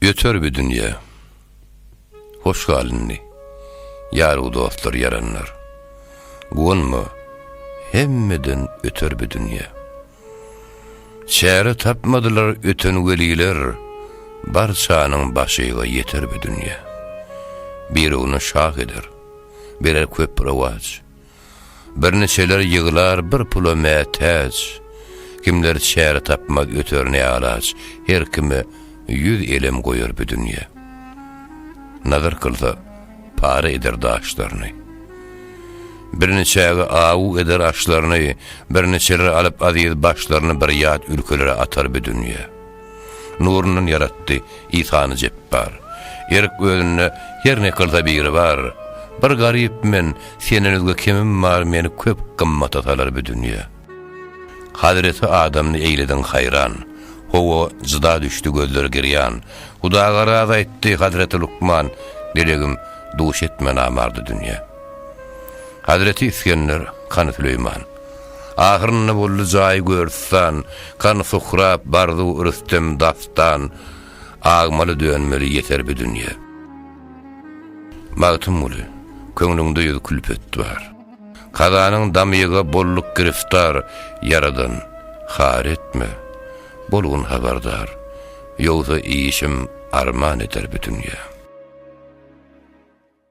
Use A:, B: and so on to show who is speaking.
A: Öter bi dünýe. Hoş gal indi. Ýargu dostlar ýaranlar. Guwanma. Hemmeden öter bi dünýe. Çäre tapmadylar öten weliler Barçanyň başyga ýeter bi dünýe. Birugny şah eder. Berer köp rowaç. Birniçeler ýyglar bir pula mätäç, Kimler çäre tapmaz öter ne alaç, Her kime ýüz elem goýar bu dünýe. Nazar kylsa, para eder daşlaryny. Birniçäge awu eder aşlaryny, Birniçeler alyp aziz başlaryny Bir ýat ülkelere atar bu dünýe. Nurundan ýaratdy Isany Jepbar. Erk özünde her ne kylsa biri bar. Bir garyp men, senden özge kimim bar meni köp gymmata salar bu dünýe. Hazreti Adamny eýlediň haýran. Howa jyda düşdi gözler girýan. Huda garaz aýtdy Hazreti Lukman, Delegim, duş etme namardy dünýe. Hazreti Isgender, Kany Süleýman. Ahyrynda boldy jaýy görstan, Kan Suhrap, Barzu, Rüstem, Dastan, Agmaly, Dönmeli ýeter bi dünýe. Magtymguly, Köňlüňde ýüz külpet bar. Kazanyň damyga bolduk giriftar, Ýaradan, har etme, bolgun habardar, Ýogsa işim arman eder bi dünýe.